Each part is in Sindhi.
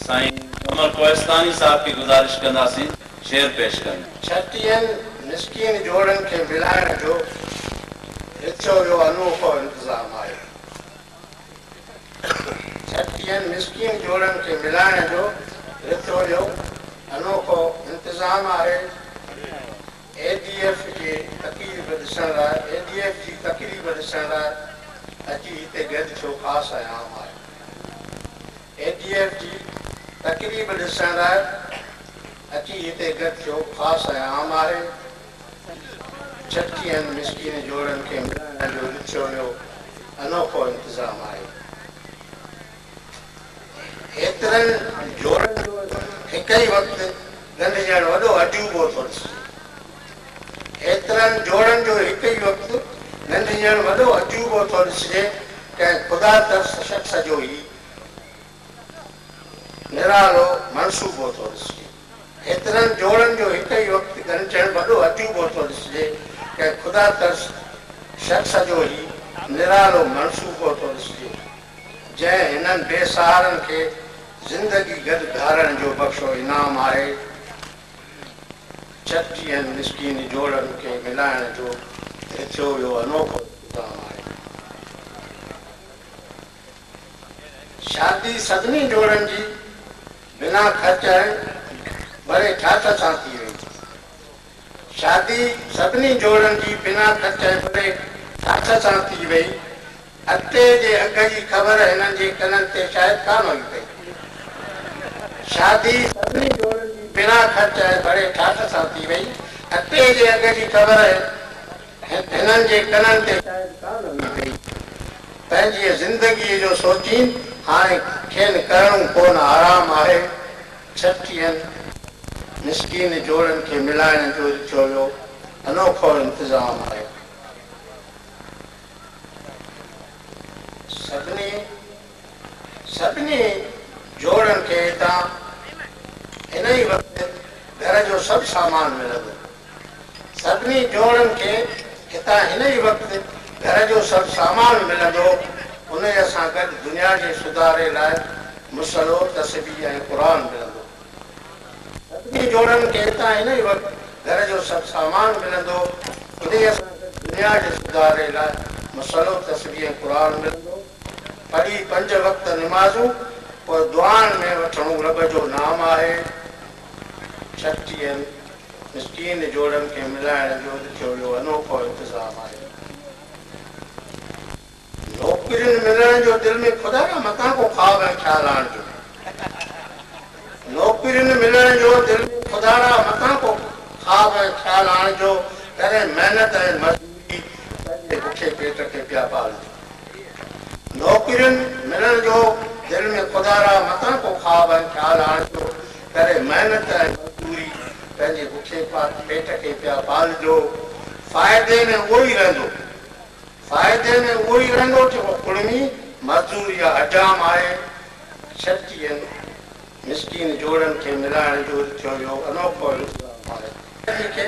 سائين عمر ڪوهستاني صاحب کي گذارش ڪنداسين شعر پيش ڪن. ڇٽيهن مسڪين جوڙن کي ملائڻ جو رٿيو ويو انوکو انتظام آهي. ڇٽيهن مسڪين جوڙن کي ملائڻ جو رٿيو ويو انوکو انتظام آهي. اي ڊي ايف جي تقريب ڏسڻ لاء اي ڊي ايف جي تقريب ڏسڻ لاء اچي هتي گڏ ٿيو خاص ۽ عام آهي. اي ڊي ايف جي تقريب ڏسڻ لاء اچي هتي گڏ ٿيو خاص ۽ عام آهي ڇٽڪي ۽ مسڪين جوڙن کي ملائڻ جو رڇو ويو انوکو انتظام آهي هيترن جوڙن جو هڪ ئي وقت ڳنڍجڻ وڏو عجوبو ٿو ڏسجي هيترن جوڙن جو هڪ ئي وقت ڳنڍجڻ وڏو عجوبو ٿو ڏسجي ڪنهن خدا ترس شخص جو هي نرالو منصوبو ٿو ڏسجي. هيترن جوڙن جو هڪ ئي وقت ڳنڍجڻ وڏو عجوبو ٿو ڏسجي. ڪنهن خدا ترس شخص جو هي نرالو منصوبو ٿو ڏسجي، جنهن هنن بي سهارن کي زندگي گڏ گهارڻ جو بخشو انعام آهي. ڇٽجيئن مسڪين جوڙن کي ملائڻ جو هي ٿيو ويو انوکو انتظام آهي. شادي سڀني جوڙن جي بنا خرچ ۽ ڀري ٺاٺ سان ٿي وئي. شادي سڀني جوڙن جي بنا خرچ ۽ ڀري ٺاٺ سان ٿي وئي. اڳتي جي اگهه جي خبر هنن جي ڪنن تي شايد ڪانه هئي پئي. شادي سڀني جوڙن جي بنا خرچ ۽ ڀري ٺاٺ سان ٿي وئي. اڳتي جي اگهه جي خبر هنن جي ڪنن تي شايد ڪا نه هئي پئي. پنهنجيء زندگيء جو سوچين هاڻي کين ڪرڻو ڪونه آرام آهي. ڇٽيهن مسڪين جوڙن کي ملائڻ جو هي چويو انوکو انتظام آهي. سڀني. سڀني جوڙن کي هتان هن ئي وقت گهر جو سڀ سامان ملندو. سڀني جوڙن کي هتان هن ئي وقت گهر جو سڀ سامان ملندو. انهيء سان گڏ دنيا جي سڌاري لاء مصلو، تسبيح ۽ قرآن ملندو. سڀني جوڙن کي هتان هن ئي وقت گهر جو سڀ سامان ملندو. انهيء سان گڏ دنيا جي سڌاري لاء مصلو، تسبيح ۽ قرآن ملندو. پڙهي پنج وقت نمازون پوء دعائن ۾ وٺڻو رب جو نام آهي ڇٽيهن مسڪين جوڙن کي ملائڻ جو اڄ ٿيو اهو انوکو انتظام آهي نوڪرين ملڻ جو دل ۾ خدا نه متان ڪو خواب ۽ خيال آڻجو نوڪرين ملڻ جو دل ۾ خدا را متان ڪو خواب ۽ خيال آڻجو ڪري محنت ۽ مزدوري پنهنجي بکي پيٽ کي پيا پالجو. نوڪرين ملڻ جو دل ۾ خدا را متان ڪو خواب ۽ خيال آڻيندو، ڪري محنت ۽ مزدوري، پنهنجي بکي پيٽ کي پيا پالجو، فائدي ۾ اهو ئي رهندو، فائدي ۾ اهو ئي رهندو جيڪو ڪڙمي مزدور يا حجام آهي، شرطين مسڪين جوڙن کي ملائڻ جو ٿيو اهو انوکو انتظام آهي. جنهن کي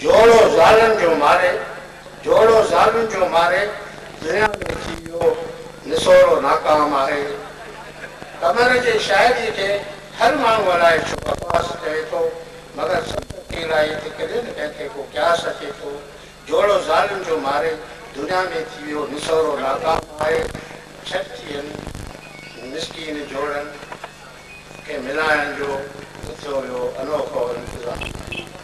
جوڙو زالن جو ماري، جوڙو زالن جو ماري، دنيا ۾ ٿي ويو نسورو ناڪام آهي. قمر جي شاعريء کي هر ماڻهو الائي ڇو بڪواس چوي ٿو، مگر سنت جي الائي تي ڪڏهن نه ڪنهن کي ڪو قياس اچي ٿو. جوڙو زالن جو ماري، دنيا ۾ ٿي ويو نسورو ناڪام آهي. ڇٽيهن مسڪين جوڙن کي ملائڻ جو به ٿيو ويو انوکو انتظام.